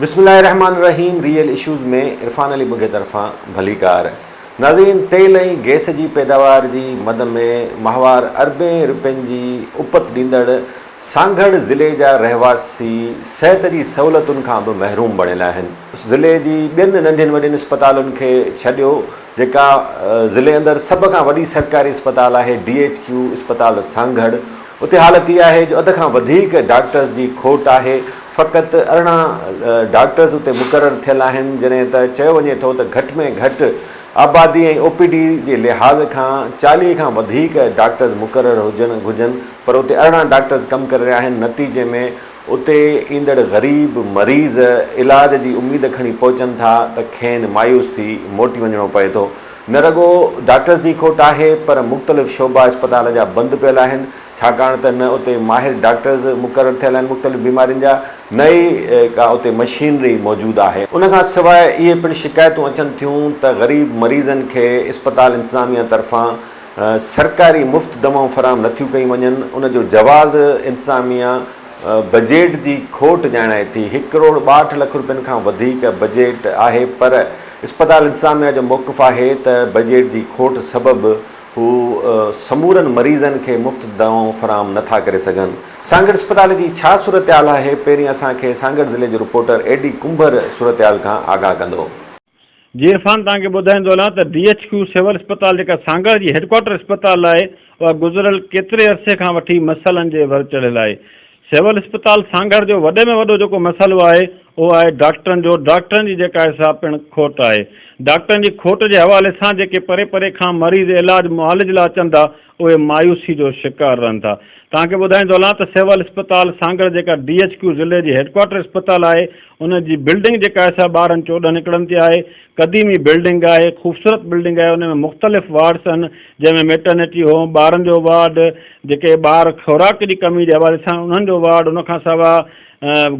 بسم الله الرحمٰن الرحيم ريئل اشوز ۾ عرفان علي بگهي طرفان ڀليڪار ناظرين تيل ۽ گئس جي پيداوار جي مد ۾ ماهوار اربين رپين جي اپت ڏيندڙ سانگهڙ ضلعي جا رهواسي صحت جي سهولتن کان به محروم بڻيل آهن ضلعي جي ٻين ننڍين وڏين اسپتالن کي ڇڏيو جيڪا ضلعي اندر سڀ کان وڏي سرڪاري اسپتال آهي ڊي ايڇ ڪيو اسپتال سانگهڙ اتي حالت اها آهي جو اڌ کان وڌيڪ ڊاڪٽرز جي کوٽ آهي فقط ارڙهن ڊاڪٽرز اتي مقرر ٿيل آهن جڏهن ته چيو وڃي ٿو ته گهٽ ۾ گهٽ آبادي ۽ او پي ڊي جي لحاظ کان چاليهه کان وڌيڪ ڊاڪٽرز مقرر هجن گهجن پر اتي ارڙهن ڊاڪٽرز ڪم ڪري رهيا آهن نتيجي ۾ اتي ايندڙ غريب مريض علاج جي اميد کڻي پهچن ٿا ته کين مايوس ٿي موٽي وڃڻو پئي ٿو. نه رڳو ڊاڪٽرز جي کوٽ آهي پر مختلف شعبا اسپتال جا بند پيل آهن ڇاڪاڻ ته نه اتي ماهر ڊاڪٽرز مقرر ٿيل آهن مختلف بيمارين جا نه ئي ڪا اتي مشينري موجود آهي. ان کان سواء اهي پڻ شڪايتون اچن ٿيون ته غريب مريضن کي اسپتال انتظاميه طرفان سرڪاري مفت دوائون فراهم نٿيون ڪيون وڃن، ان جو جواز انتظاميا بجيٽ جي کوٽ ڄاڻائي ٿي، هڪ ڪروڙ ٻاهٺ لک روپين کان وڌيڪ بجيٽ آهي پر اسپتال انتظاميا جو موقف آهي ته بجيٽ جي کوٽ سبب هو سمورن مريضن کي مفت دوائون فراهم نٿا ڪري سگهن. سانگهڙ اسپتال جي ڇا صورتحال آهي، پهرين اسان کي سانگهڙ ضلعي جو رپورٽر اي ڊي ڪنڀر صورتحال کان آگاهه ڪندو. جي عرفان توهان کي ٻڌائيندو هلان ته ڊي ايڇ ڪيو سول اسپتال جيڪا سانگهڙ جي هيڊڪوارٽر اسپتال آهي اها گذريل ڪيتري عرصي کان وٺي مسئلن جي ور چڙهيل آهي سول اسپتال سانگهڙ جو وڏي ۾ وڏو جيڪو مسئلو آهي اهو آهي ڊاڪٽرن جو ڊاڪٽرن جي جيڪا آهي سا پڻ کوٽ آهي ڊاڪٽرن جي کوٽ جي حوالي سان جيڪي پري پري کان مريض علاج معالج لا اچن ٿا اهي مايوسي جو شڪار رهن ٿا. توهان کي ٻڌائيندو هلان ته سول اسپتال سانگهڙ جيڪا ڊي ايڇ ڪيو ضلعي جي هيڊڪوارٽر اسپتال آهي ان جي بلڊنگ جيڪا آهي سا ٻارهن چوڏهن اڪڙن تي آهي. قديمي بلڊنگ آهي، خوبصورت بلڊنگ آهي، ان ۾ مختلف وارڊس آهن جنهن ۾ ميٽرنٽي هوم، ٻارن جو وارڊ، جيڪي ٻار خوراڪ جي ڪمي جي حوالي سان انهن جو وارڊ ان کان سواء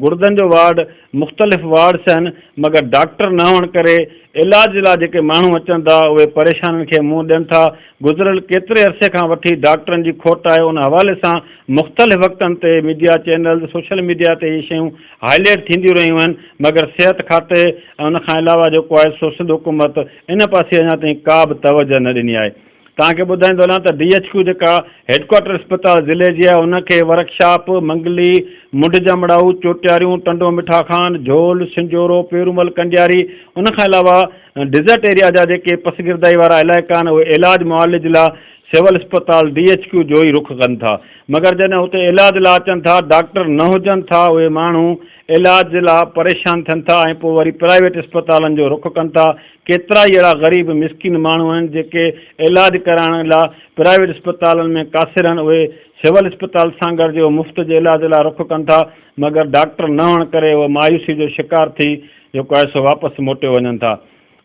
گڙدن جو وارڊ، مختلف وارڊس آهن مگر ڊاڪٽر نه هئڻ ڪري علاج لا جيڪي ماڻهو اچن ٿا اهي پريشانين کي منهن ڏين ٿا گذريل ڪيتري عرصي کان وٺي ڊاڪٽرن جي کوٽ آهي ان حوالي سان مختلف وقتن تي ميڊيا چينلز سوشل ميڊيا تي اهي شيون هائليٽ ٿينديون رهيون آهن مگر صحت کاتي ۽ ان کان علاوه جيڪو آهي سو سنڌ حڪومت ان پاسي اڃا تائين ڪا به توجه نه ڏني آهي توهان کي ٻڌائيندو هلان ته ڊي ايڇ ڪيو جيڪا هيڊڪوارٽر اسپتال ضلعي جي آهي ان کي ورڪشاپ، منگلي، منڍ جمڙائو، چوٽياريون، ٽنڊو مٺا خان، جھول، سنجورو، پيرومل ڪنڊياري ان کان علاوه ڊيزرٽ ايريا جا جيڪي پسگردائي وارا علائقا آهن اهي علاج معالج لا سول اسپتال ڊي ايڇ ڪيو جو ئي رخ ڪن ٿا مگر جڏهن اتي علاج لا اچن ٿا ڊاڪٽر نه هجن ٿا اهي ماڻهو علاج لا پريشان ٿين ٿا ۽ پوء وري پرائيويٽ اسپتالن جو رخ ڪن ٿا، ڪيترائي اهڙا غريب مسڪين ماڻهو آهن جيڪي علاج ڪرائڻ لا پرائيويٽ اسپتالن ۾ قاصر آهن اهي سول اسپتال سانگهڙ جي مفت جي علاج لا رخ ڪن ٿا مگر ڊاڪٽر نه هئڻ ڪري اهي مايوسي جو شڪار ٿي جيڪو آهي سو واپس موٽيو وڃن ٿا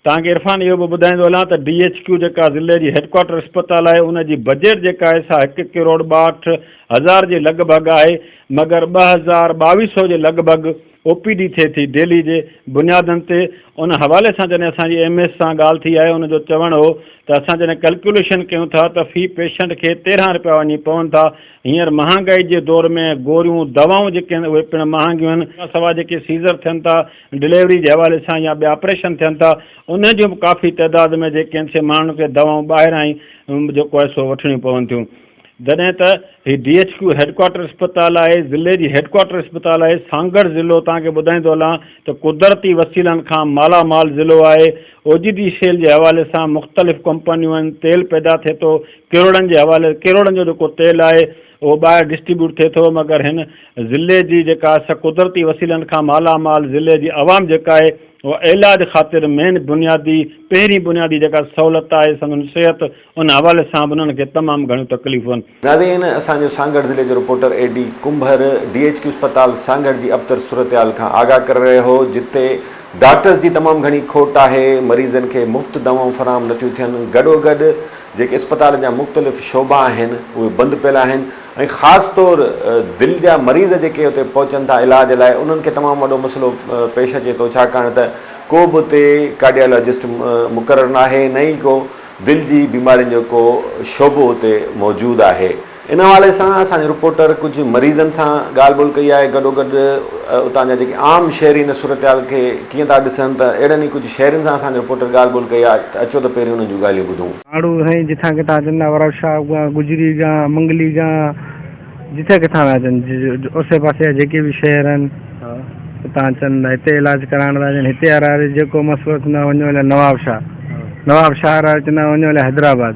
توهان کي عرفان اهو به ٻڌائيندو هلان ته ڊي ايڇ ڪيو جيڪا ضلعي جي هيڊڪوارٽر اسپتال آهي ان جي بجيٽ جيڪا آهي سا هڪ ڪروڙ ٻاهٺ هزار جي لڳ ڀڳ آهي مگر ٻه هزار ٻاويهه سئو جي لڳ ڀڳ او پي ڊي ٿئي ٿي ڊيلي جي بنيادن تي ان حوالي سان جڏهن اسان جي ايم ايس سان ڳالهه ٿي آهي ان جو چوڻ هو ته اسان جڏهن ڪلڪيوليشن ڪيون ٿا ته في پيشنٽ کي تيرهن رپيا وڃي پون ٿا هينئر مهانگائي جي دور ۾ گوريون دوائون جيڪي آهن اهي پڻ مهانگيون آهن ان کان سواء جيڪي سيزر ٿين ٿا ڊليوري جي حوالي سان يا ٻيا آپريشن ٿين ٿا ان جون به ڪافي تعداد ۾ جي ڪين سي ماڻهن کي دوائون ٻاهران ئي جيڪو آهي سو وٺڻيون پون ٿيون جڏهن ته هي ڊي ايڇ ڪيو هيڊڪوارٽر اسپتال آهي ضلعي جي هيڊڪوارٽر اسپتال آهي سانگهڙ ضلعو توهان کي ٻڌائيندو هلان ته قدرتي وسيلن کان مالا مال ضلعو آهي اوجدي شيل جي حوالي سان مختلف ڪمپنيون آهن تيل پيدا ٿي ٿو ڪروڙن جي حوالي ڪروڙن جو جيڪو تيل آهي اهو ٻاهر ڊسٽريبيوٽ ٿئي ٿو مگر هن ضلعي جي جيڪا سا قدرتي وسيلن کان مالا مال ضلعي جي عوام جيڪا آهي اها عيلاج خاطر مين بنيادي پهرين بنيادي جيڪا سهولت آهي سندن صحت ان حوالي سان به انهن کي تمام گهڻيون تڪليفون ناظرين اسان جو سانگهڙ ضلعي جو reporter A D Kumbhar D H Q اسپتال سانگهڙ جي ابتر صورتحال کان آگاهه ڪري رهيو هو جتي ڊاڪٽرز جي تمام گهڻي کوٽ آهي مريضن کي مفت دوائون فراهم نٿيون ٿين گڏوگڏ جيڪي اسپتال جا مختلف شعبا آهن اهي بند پيل آهن ۽ خاص طور دل جا مريض جيڪي اتي پهچن ٿا علاج لاء انهن کي تمام وڏو مسئلو پيش اچي ٿو ڇاڪاڻ ته ڪو به اتي ڪارڊيالاجسٽ مقرر ناهي نه ئي ڪو دل جي بيمارين جو ڪو شعبو اتي موجود آهي ان حوالي سان اسان جي رپورٽر ڪجهه مريضن سان ڳالهه ٻولهه ڪئي آهي، گڏوگڏ اتان جا جيڪي عام شهري ان صورتحال کي ڪيئن ٿا ڏسن ته اهڙن ئي ڪجهه شهرين سان اسان جي رپورٽر ڳالهه ٻولهه ڪئي آهي ته اچو ته پهرين انهن جون ڳالهيون ٻڌون. ماڻهو سائين جتان ڪٿان اچن ٿا ورا شاهه کان، گجري کان، منگلي کان جتان ڪٿان ٿا اچن اوسي پاسي جا جيڪي به شهر آهن اتان اچن ٿا هتي علاج ڪرائڻ ٿا اچن هتي وارا جيڪو مسئلو اچن ٿا وڃو الائي نوابشاهه نوابشاهه وارا اچن ٿا وڃو الائي حيدرآباد.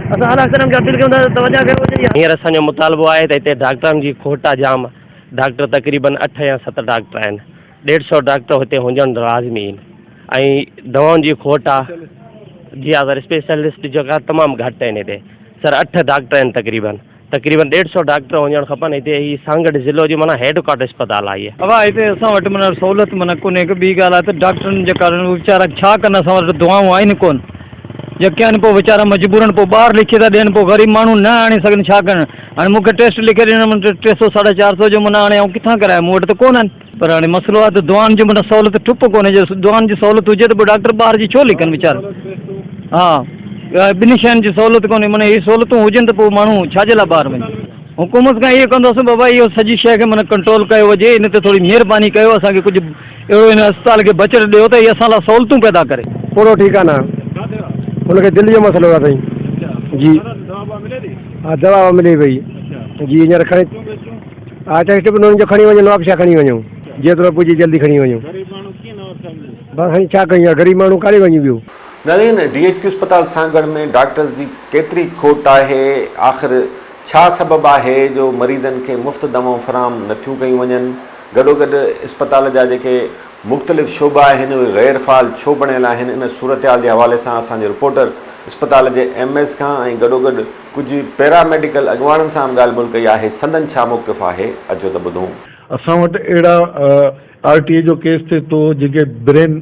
اسان اعليٰ اخترم کي اپيل ڪيون ٿا ته توجهه ڪيو وڃي. هينئر اسان جو مطالبو آهي ته هتي ڊاڪٽرن جي کوٽ آهي جام ڊاڪٽر تقريبن اٺ يا ست ڊاڪٽر آهن ڏيڍ سئو ڊاڪٽر هتي هجڻ لازمي آهن ۽ دوائن جي کوٽ آهي جي آزر اسپيشلسٽ جيڪا تمام گهٽ آهن هتي سر اٺ ڊاڪٽر آهن تقريبن تقريبن ڏيڍ سئو ڊاڪٽر هجڻ کپن هتي هي سانگهڙ ضلعو جي معنيٰ هيڊ ڪوارٽر اسپتال آهي هيء. اها هتي اسان وٽ معنيٰ سهولت معنيٰ ڪونهي هڪ ٻي ڳالهه آهي ته ڊاڪٽرن جي ڪارڻ اهي ويچارا ڇا ڪن اسان وٽ دوائون آهن ڪون جيڪي آهن پوء ويچارا مجبورن پوء ٻاهر لکي ٿا ڏين پوء غريب ماڻهو نه آڻي سگهن ڇا ڪن هاڻي مون کي ٽيسٽ لکي ڏيڻ معنيٰ ٽي سئو ساڍا چار سئو جو معنيٰ هاڻي آئون ڪٿان ڪرايان مون وٽ ته ڪونهن. پر هاڻي مسئلو آهي ته دعائن جون به سهولت ٺپ ڪونهي جو دعائن جي سهولت هجي ته پوء ڊاڪٽر ٻاهر جي ڇو لکن ويچارا ها ٻنهي شين جي سهولت ڪونهي معنيٰ هي سهولتون هجن ته پوء ماڻهو ڇا جي لاء ٻاهر وڃي حڪومت کان اهو ڪنداسون بابا اهو سڄي شيء کي معنيٰ ڪنٽرول ڪيو وڃي ان تي ٿوري مهرباني ڪيو اسان کي ڪجهه اهڙو هن اسپتال کي بجٽ ڏيو ته هي اسان لاء سهولتون پيدا ڪري. پورو ٺيڪ آهي نه هن کي دل جو مسئلو آهي سائين جي ها دوا ووا ملي پئي جي هينئر کڻي آء چيس ٽڪ نون جو کڻي وڃ نواب شاھ کڻي وڃون جيترو پڄي جلدي کڻي وڃون. غريب ماڻهو ڪيئن نواب شاھ وڃي. بس هاڻي ڇا ڪيون يار غريب ماڻهو ڪاڏي وڃي ٻيو. نارين، ڊي ايڇ ڪيو اسپتال سانگهڙ ۾ ڊاڪٽرز جي ڪيتري کوٽ آهي؟ آخر ڇا سبب آهي جو مريضن کي مفت دوائون فراهم نه ٿيون ڪيون وڃن؟ گڏوگڏ اسپتال جا جيڪي مختلف شعبا آهن اهي غير فعال ڇو بڻيل آهن؟ ان صورتحال جي حوالي سان اسان جي رپورٽر اسپتال جي ايم ايس کان ۽ گڏوگڏ ڪجهه پيرا ميڊيڪل اڳواڻن سان به ڳالهه ٻولهه ڪئي آهي، سندن ڇا موقف آهي، اچو ته ٻڌون. اسان وٽ اهڙا آر ٽي اي جو ڪيس ٿئي ٿو جنهن کي برين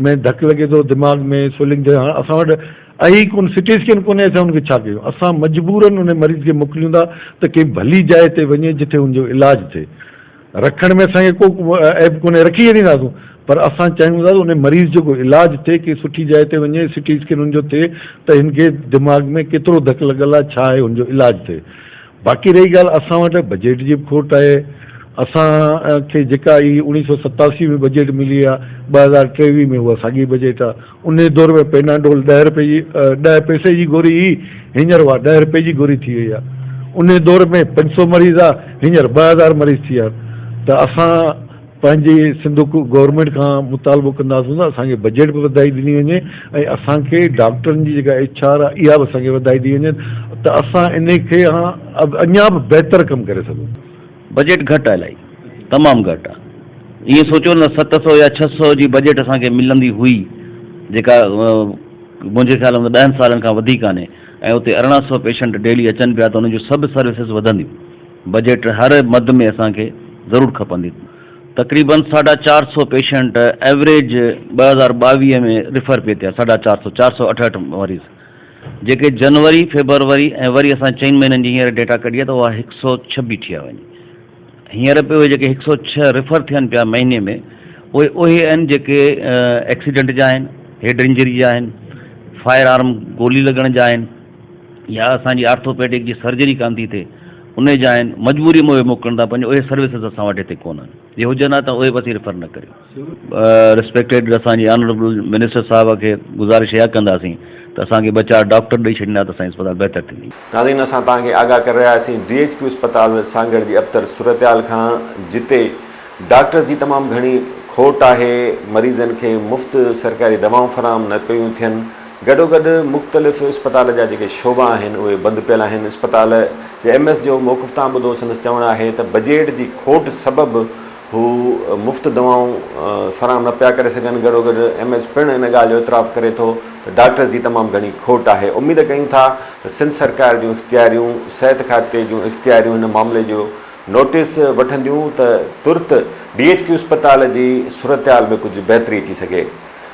۾ ڌڪ لڳي ٿو دماغ ۾ سوئلنگ ٿئي هاڻ اسان وٽ اهي ئي ڪون سٽي اسڪين ڪونهي اسان ان کي ڇا ڪيون اسان مجبورن ان مريض کي موڪليون ٿا ته ڪنهن ڀلي جاء تي وڃي جتي ان جو علاج ٿئي رکڻ ۾ اسان کي ڪو عيب ڪونهي رکي ڇڏينداسون پر اسان چاهيون ٿا ته ان مريض جو ڪو علاج ٿئي ڪنهن سٺي جاء تي وڃي سي ٽي اسڪين ان جو ٿئي ته هن کي دماغ ۾ ڪيترو ڌڪ لڳل آهي ڇا آهي ان جو علاج ٿئي باقي رهي ڳالهه اسان وٽ بجيٽ جي به کوٽ آهي اسان کي جيڪا هي اوڻيهه سؤ ستاسي ۾ بجيٽ ملي آهي ٻه هزار ٽيويهه ۾ اها ساڳي بجيٽ آهي انهيء دور ۾ پيناڊول ڏهه رپئي جي ڏهه پئسي جي گوري هئي، هينئر اها ڏهه رپئي جي گوري ٿي وئي آهي. انهيء دور ۾ پنج سؤ مريض هئا، هينئر ٻه هزار مريض ٿي ويا آهن ته اسان پنهنجي سنڌ گورنمينٽ کان مطالبو ڪنداسون ته اسان کي بجيٽ به وڌائي ڏني وڃي ۽ اسان کي ڊاڪٽرن جي جيڪا ايڇ آر آهي اها به اسان کي وڌائي ڏني وڃي ته اسان انهيء کي اڃا به بهتر ڪم ڪري سگهون. بجيٽ گهٽ آ الائي تمام گهٽ آ ائين سوچيو نه ست سئو يا ڇهه سئو جي بجيٽ اسان کي ملندي هئي جيڪا منهنجي خيال ۾ ڏهن سالن کان وڌي ڪانهي ۽ اتي ارڙهن سئو پيشنٽ ڊيلي اچن پيا ته انهن جون سڀ سروسز وڌنديون بجيٽ هر مد ۾ اسان کي ضرور کپندي تقريبن ساڍا چار سئو پيشنٽ ايوريج ٻه هزار ٻاويهه ۾ ريفر پي ٿيا ساڍا چار سئو چار سئو اٺهٺ مريض. جيڪي جنوري، فيبروري ۽ وري اسان چئن مهينن جي هينئر ڊيٽا ڪڍي آهي ته اها هڪ سؤ ڇهه بيٺي آهي وڃي. هينئر به اهي جيڪي هڪ سؤ ڇهه ريفر ٿين پيا مهيني ۾ اهي اهي آهن جيڪي ايڪسيڊنٽ جا آهن، هيڊ انجري جا آهن، فائر آرم گولي لڳڻ جا آهن يا اسان جي آرٿوپيڊڪ جي سرجري ڪانه ٿي ٿئي انهي جا آهن، مجبوري ۾ اهي موڪلڻ ٿا پنهنجي اهي سروسز اسان وٽ هتي ڪونهن. جي هجن ها ته اهي به اسين ريفر نه ڪريون. ريسپيڪٽيڊ اسان جي آنريبل منسٽر صاحب کي گذارش اها ڪنداسين ته اسان کي ٻه چار ڊاڪٽر ڏئي ڇڏيندا ته اسان جي اسپتال بهتر ٿيندي. ناظرين اسان توهان کي آگاهه ڪري رهيا آهيسين ڊي ايڇ ڪيو اسپتال ۾ سانگهڙ جي ابتر صورتحال کان جتي ڊاڪٽرز جي تمام گهڻي کوٽ آهي مريضن کي مفت سرڪاري دوائون فراهم نه پيون ٿين گڏوگڏ مختلف اسپتال جا جيڪي شعبا آهن اهي بند پيل آهن اسپتال جي ايم ايس جو موقف توهان ٻڌو سندس چوڻ آهي ته بجيٽ جي کوٽ سبب هو مفت دوائون فراهم نه پيا ڪري سگهن، گڏوگڏ ايم ايس پڻ ان ڳالهه جو اعتراف ڪري ٿو ته ڊاڪٽرز جي تمام گهڻي کوٽ آهي، اميد ڪيون ٿا ته سنڌ سرڪار جون اختياريون صحت کاتي جون اختياريون هن معاملي جو نوٽيس وٺنديون ته ترت ڊي ايڇ ڪيو اسپتال جي صورتحال ۾ ڪجهه بهتري اچي سگهي.